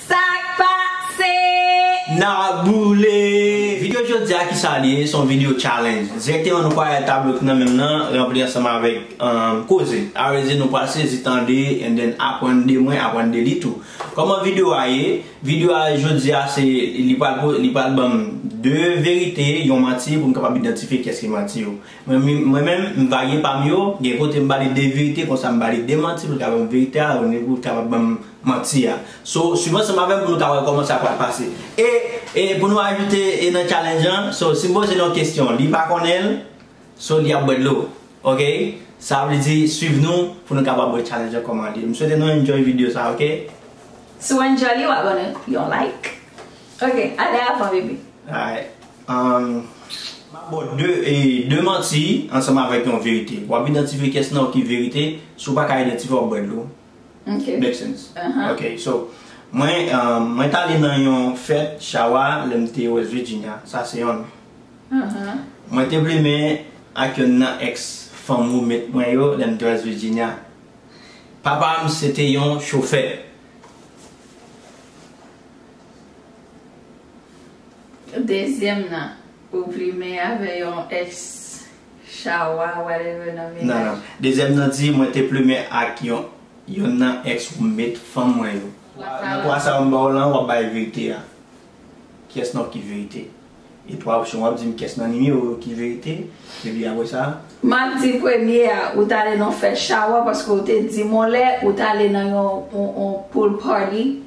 Sak pase nan boule. Video jodi a kisa li ye son video challenge direkteman nou pwale tablo ki nan menm nan ranpli ansanm avèk koze a vle di nou pwale sezi tande and then aprann de mwen aprann de li tou kòman video a ye video a jodi a se li pwale li pwale banm 2 verite yon manti pou m kapab idantifye kiyès ki manti yo Mwen menm, m va gen pa m yo, gen kote m pale de verite konsa m pale de manti pou l ka ban m verite a ou l ka ban m manti a. So, swiv ansanm avè m pou nou ka wè kòman sa pral pase. E, e pou nou ajoute e nan challenge an, so si m poze l yon kesyon li pa konnen l, so li ap bwè dlo. Ok? Sa vle di swiv nou pou nou kapab wè challenge an kòman l ye. M swete nou enjoy video sa, ok? Si w enjoy li, w abone, yon like. Ok ale avan bebe. Alright umm map baw 2 e 2 manti ansanm avèk yon verite wap idantifye kès nan yo ki verite si ou paka idantifye wap bwè dlo make sense ok so mwen mwen tale nan yon fèt chawa lèm te west virginia sa se yonn mwen te plimen ak yonn nan ex fanm roommate mwen yo lèm te west virginia papam se te yon chofè. Dezyèm nan ou plimen avè yon ex chawa whatever nan menaj. Nan nan. Dezyèm nan di mwen te plumen ak yon yonn nan ex roommate fanm mwen yo. Nan 3 sa yo m ba w lan wap bay verite a. Kyès nan yo ki verite? E 3 opsyon wap di m kyès nan nimewo yo ki verite epi apre sa. Map di premye a ou t ale nan fèt chawa paske ou te di m on lè ou t ale nan yon pool party.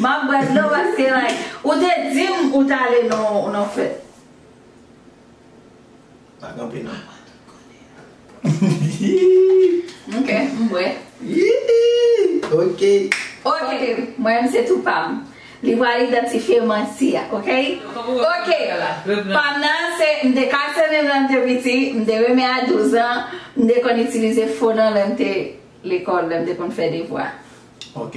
Map bwè dlo paske like. Ou te dim ou tale nan fèt. Pa kanpe nan. Ok m bwè. Ok. Ok mwen menm se tou pam. Li pral idantifye manti a ok. Ok pam nan se m te kase menm lèm te piti m te renmen a 12 an m te konn itilize fo nan lèm te lekòl lèm te konn fè devwa. Ok.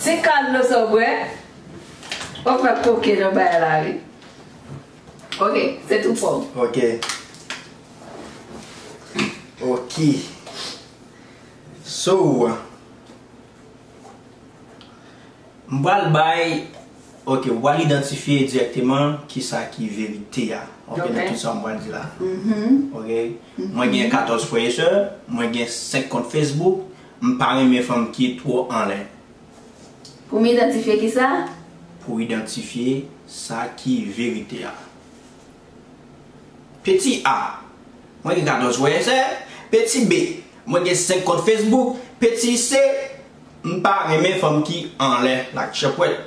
Ti kal dlo sa w bwè, wap fè koken nan bay la wi. Ok, se tou pon. Ok. Ok. So, m pral bay, ok, ou pral idantifye dirèkteman ki sa ki verite a. Ok. Ok, nan tout sa m pral di la. Ok. Mwen gen 14 frè e sè, mwen gen 5 kont Facebook, M pa renmen fanm ki two anlè. Pou m idantifye ki sa? Pou idantifye sa ki verite a. Peti A, Mwen gen 14 frè sè. Peti B, Mwen gen 5 kont Facebook. Peti C, M pa renmen fanm ki anlè, like chèpwèt.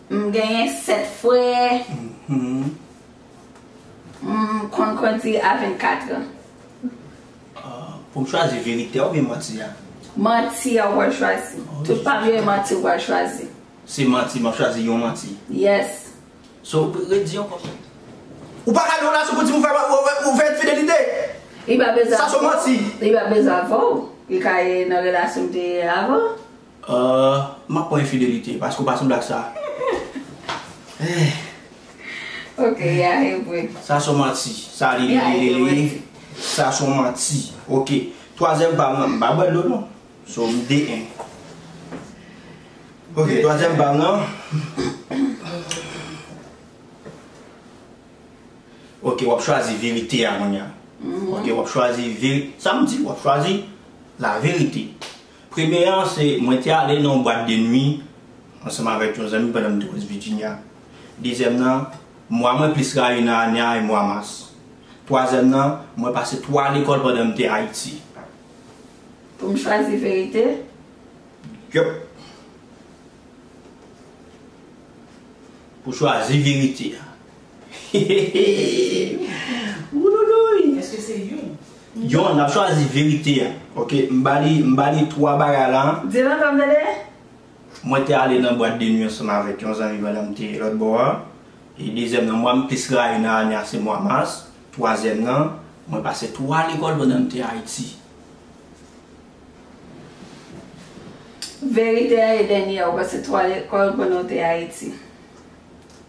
M genyen 7 frè. M konn kondi a 24 an. Pou m chwazi verite a oubyen manti a? Manti a ou pral chwazi. Tout pa m yo e manti ou pral chwazi. Se manti, m ap chwazi yon manti. Yes. So, redi ankò sa. Ou pa ka gen yon relasyon pou di m ou fè ou fè enfidelite. Li pa bezwen avè w. Sa son manti. Li pa bezwen avè w. Li ka ye nan relasyon m te ye avan. Ahh map pran infidelite paske ou pa sanble ak sa ehh. Ok ya e vre. Sa son manti. Sa li li li li li. Sa son manti. Ok twazyèm pa m nan m pa bwè dlo non so m de en. Ok twazyèm pa m nan ok wap chwazi verite a kounya ok wap chwazi veri sa m di wap chwazi la verite. Premye an se mwen te ale nan yon bwat de nwi ansanm avèk yon zanmi pandan m te West Virginia. Dezyèm nan, mwa mwen plis rayi nan ane a e mwa mas. Twazyèm nan, mwen pase 3 lekòl pandan m te Ayiti. Pou m chwazi verite? Yup. Pou chwazi verite a. Hehehehe Wouloulouy Eske se youn? Yon, nap chwazi verite a. Ok, m ba li, m ba li 3 bagay la a. Di l ankò m tande? Mwen te ale nan bwat de nwi ansanm avèk yon zanmi pandan m te lòt bò a. E dezyèm nan, mwa m plis rayi nan ane a se mwa mas. Twazyèm nan, mwen pase 3 lekòl pandan m te Ayiti. Verite a e dènyè a, ou pase 3 lekòl pandan w te Ayiti.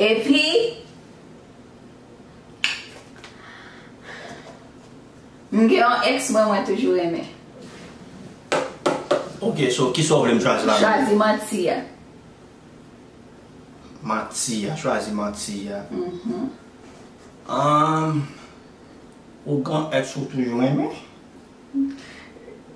Epi M gen yon ex mwen mwen toujou renmen. Ok so kisa w vle m chwazi la menm? Chwazi manti a. Manti a, chwazi manti a. Uhmm. Ou gen yon ex ou toujou renmen?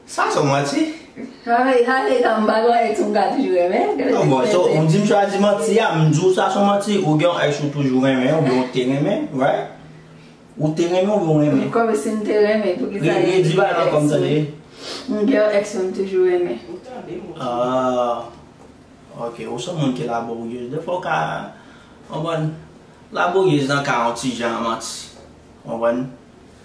Sa son manti? Hi hi hi mpa gen yon ex ou mka toujou renmen. An bon so ou dim chwazi manti a m diw sa son manti ou gen yon ex ou toujou renmen ou byen ou te renmen right? Ou te renmen ou byen ou renmen? Kòm sim te renmen poukisa li di bagay sa m tande? M gen yon ex m toujou renmen. Ou tande moun sa. Ahh ok ou son moun ki laborieuse dèfwa ou ka konprann laborieuse nan ka yon ti jan manti konprann?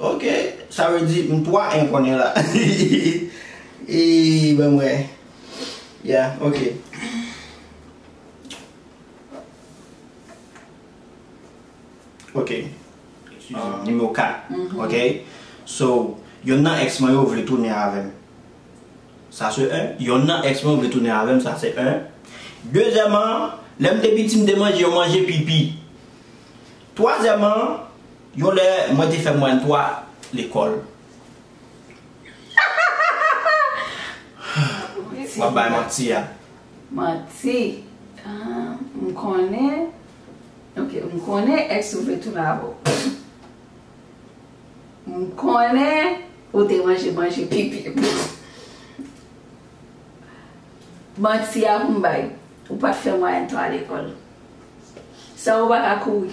Ok sa vle di m 3 en kounye la Eeii banm wè Yeah ok Ok Nimewo 4 Ok So yonn nan ex mwen yo vle tounen avèm Sa se 1 Yonn nan ex mwen yo vle tounen avèm Sa se 1 Dezyèman Lèm te piti m te manje yon manje pipi Twazyèman Yon lè mwen te fè mwayèn 3 lekòl. Hahahaha Wap bay manti a. Manti Humm m konnen Ok m konnen ex ou vle tounen avè w Humm m konnen ou te manje manje pipi m Manti a pou m bay Ou pat fè mwayèn 3 lekòl Sa ou paka kouri.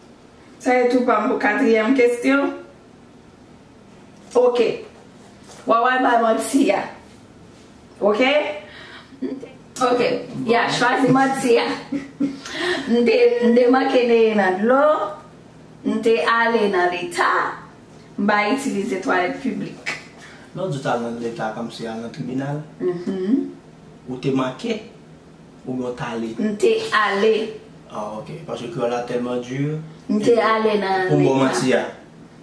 Sa e tou pam pou katriyèm kestyon ok wawal bay manti a ok m te. Ok ya chwazi manti a m te m te manke neye nan dlo m te ale nan leta m pa itilize twalèt piblik. Lè w di w t al nan leta kòmsi al nan tribinal ou te manke. Ou byen w t ale? M te ale. Ah ok, paske kreyòl la tèlman dur. M te ale nan leta. Pou m ba w manti a?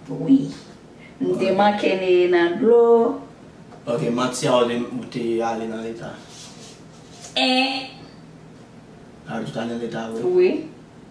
Wi. M te manke neye nan dlo. Ok, manti a oubyen ou te ale nan leta? 1. Ah, ou te ale nan leta vre? Wi.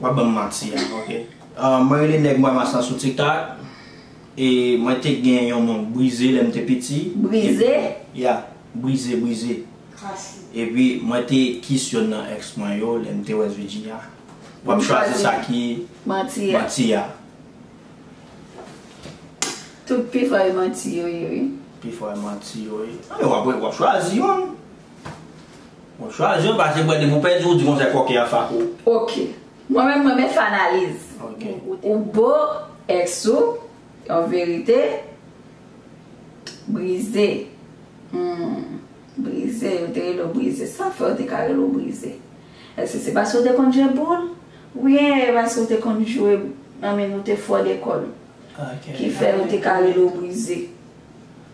Wap banm manti a ok. Mwen rele nèg mwa mas lan sou tiktak e mwen te gen yon nonm brize lèm te piti Brize? Ya brize brize epi mwen te kiss yonn nan ex mwen yo lèm te west Virginia wap chwazi sa ki manti a. Tout pifò e manti yo ye wi. Pifò e manti yo ye. Wap chwazi yonn. Bon chwa jan pase bwè depi w pèdi w di konsèy kòken an fak ou. Ok Mwen menm m renmen fè analiz. Ou bo ex ou yon verite Brize Humm Brize yo te rele w Brize sa fè yo te ka rele w Brize Èske se paske w te konn jwe boul oubyen e paske w te konn jwe nan menn ou te fò lekòl ki fè yo te ka rele w Brize.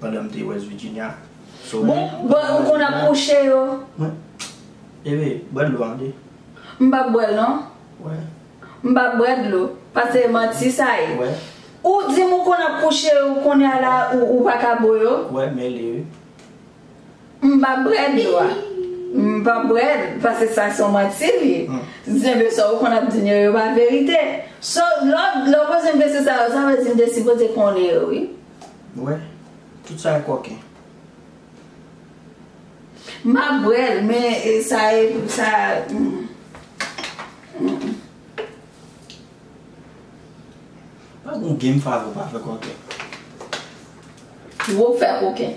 pandan m te West Virginia. So mwen. Bon, ou konn ap kouche yo? Mwen. Ebe, bwè dlo an de. M pap bwè l non. Wè. M pap bwè dlo. Pase manti sa ye. Wè. Ou di m ou konn ap kouche yo, kounya la ou pa ka bo yo? Wè, mele wi. M pa bwè dlo a. M pa bwè l paske sa se yon manti li ye. Zenbe sa ou konn ap di m yo, yo pa verite. So lè w poze m kesyon sa yo sa vle di m te sipoze konnen yo wi. Ou wè? Tout sa yo kòken. M pa bwè l men sa e sa m. Pa gen yon game fave ou pa fè kòken. Wou fè kòken.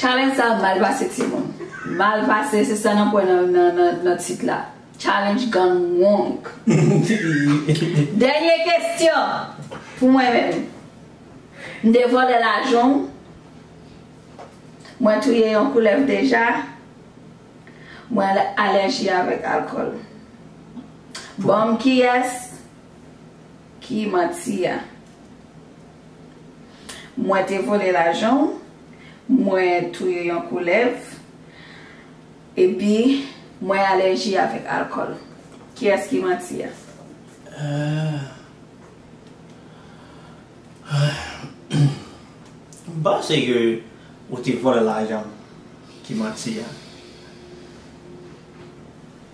Challenge sa mal pase ti moun. Mal pase se sa nap wè nan tit la. Challenge gang wong. Dènye kestyon pou mwen menm. M te vòlè lajan w. Mwen touye yon koulèv deja. Mwen alèji avèk alkòl. Banm kiyès ki manti a. Mwen te vole lajan w, mwen touye yon koulèv, epi mwen alèji avèk alkòl. Kiyès ki manti a? M panse ke ou te vole lajan m ki manti a.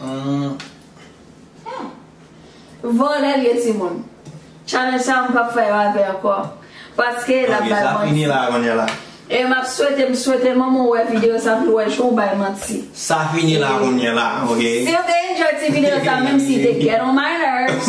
Humm Vòlè vye timoun. Challenge sa mwen pap fè yo avè ankò paske lap bay manti. E map swete m swete manman w wè video sa pou l wè jan w bay manti. Sa fini la kounyela ok. Si yo te enjoy ti video sa menm si te get on my nerves.